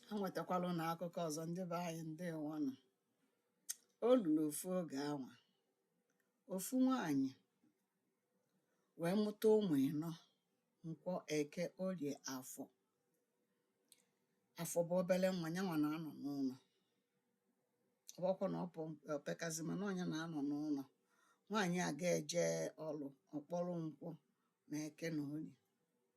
ha nwetakwara ụnụ akụkọ ọzọ ndị be anyị ndeewonụ o luru ofu oge a nwa ofu nwaanyị wee mụta ụmụ ịnọ nkwọ eke orie afọ afọ bụ obere nwa ya nwa na-anọ n'ụlọ ọ bụkwa na o pekazi mana ọ nya na-anọ n'ụlọ nwaanyị a ga-eje ọlụ ọ kpọrọ nkwọ na eke na orie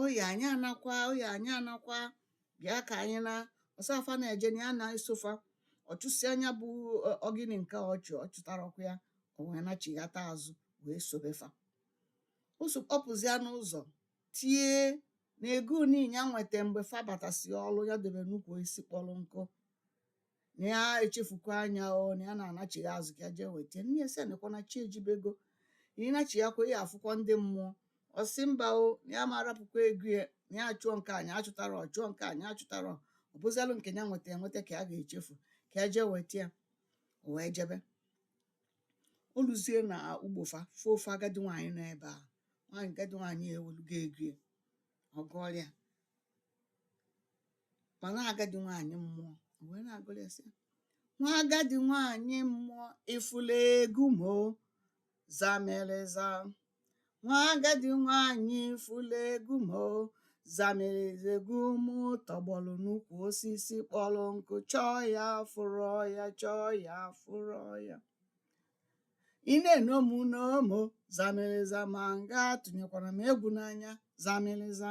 oya anyị anakwa oya anyị anakwa bịa ka anyị na ọ sị fa na-eje na ya na-eso fa ọ chụsịa nya bụ ogini nke ọ chụ ọ chụtarọkwa ya o wee nachighata azụ wee sobe fa ozugbo ọ pụzịa n'ụzọ tie na egu niile ya nweta mgbe fa batasị ọrụ ya debe n'ukwu osisi kpọrọ nkụ na ya echefukwa nya o na ya na-anachigha azụ ka ya jee weta nne ya sị ya nekwa na chi ejibego na ị nachighakwa ị ya-afụkwa ndị mmụọ ọ sị mba o na ya ma arapụkwa egu ya na ya achụọ nke a nya achụtarọ chụọ nke a nya achụtarọ ọ bụzialụ nke ya nweta enweta ka ya ga-echefu ka ya jee weta ya o wee jebe o luzie na ugbo fa fụ ofu agadi nwaanyị nọ ebe a nwaanyị agadi nwaanyị ewelụgo egu ya ọ gụọrọ ya ma na agadi nwaanyị mmụọ o wee na-agụrụ ya sị ya, nwa agadi nwaanyị mmụọ ị fụlụ egu m o zamereza nwa agadi nwaanyị ị fụlụ egu m o zamereza egu m tọgbọrọ n'ukwu osisi kpọrọ nkụ chọọ ya afụrọ ya chọọ ya afụrọ ya ị na-eno mụ noo m o zamereza ma nga tụnyekwara m egwu n'anya zamereza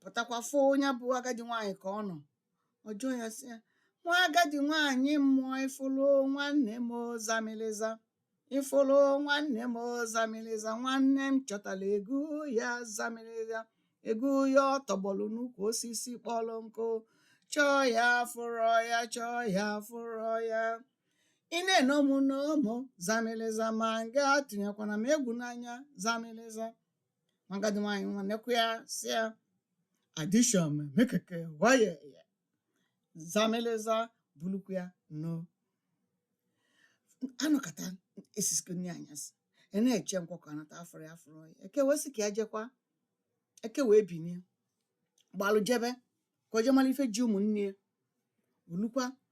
pụtakwa fụ nya bụ agadi nwaanyị ka ọ nọ ọ jụọ ya sị ya nwa agadi nwaanyị mmụọ ị fụlụ nwanne m o zamịlịza ị fụlụ nwanne m o zamịlịza nwanne m chọtara egu ya zamịlịza egu ya ọ tọgbọlụ n'ukwu osisi kpọrọ nkụ chọọ ya afụrọ ya chọọ ya afụrọ ya ị na-eno mụ noo mụ zamịlịza ma nga atụnyekwana m egwu n'anya zamịlịza agadi nwaanyị nwa nekwa ya sị ya adishọn mekeke waye ya zameleza bulukwu ya noo a nọkata e sisikwa nri anyasị a na-eche nkwọ ka ọ nata afụrọ ya afụrọ ya eke wee sị ka ya jekwa eke wee binie gbalụ jebe ka o jee mara ife ji ụmụnne ya o lukwa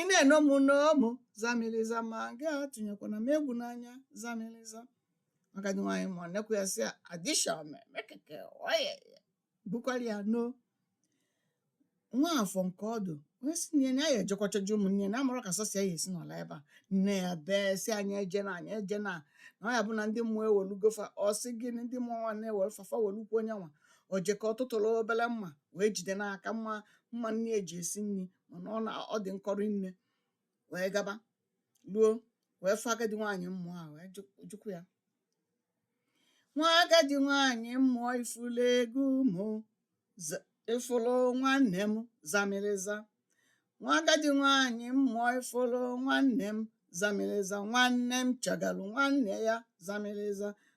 ị na-eno m no mụ zamiliza ma gị atụnyekwana m egwu n'anya zamiliza agadi nwaanyị mmụọ nekwa ya sị ya adisha mekeke wee bukwara ya noo nwa afọ nke ọdụ wee sị nne ya na ya ejekwa chọga ụmụnne ya na amarọ ka sọsọ ya esi nọlụ ebe a nne ya bee sị nya ejena nya ejena na ọ ya bụ na ndị mmụọ ewelugo fa ọ sị gị na ndị mmụọ nwa na-ewere fa fa welukwuo nya nwa o jeko ọ tụtụrụ obere mma wee jide n'aka mma mma nne ya ji esi nri mana ọ na ọ dị nkọ rinne wee gaba ruo wee fụ agadi nwaanyị mmụọ a wee jụ- jụkwa ya nwa agadi nwaanyị mmụọ ị fụlụ ego mụ za- ị fụlụ nwanne m zamịrịza nwa agadi nwaanyị mmụọ ị fụlụ nwanne m zamịrịza nwanne m chọgalụ nwanne ya zamịrịza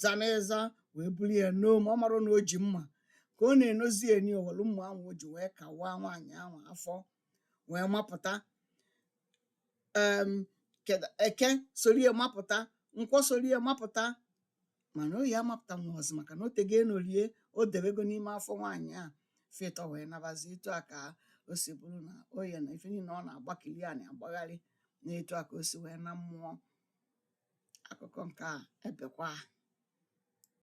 zamịrịza wee buru ya noo ma ọ marọ na o ji mma ka ọ na-enozi eni o welu mma ahụ o ji wee kawaa nwaanyị ahụ afọ wee mapụta em keda eke sorie mapụta nkwọ sorie mapụta mana oye amapụtarọzi maka na o tego e noli e o debego n'ime afọ nwaanyị a fa ịtọ wee nabazi etu a ka o si bụrụ na oye na ife niile ọ na-agbakili a na-agbagharị na etu a ka o si wee naa mmụọ akụkọ nke a ebekwa.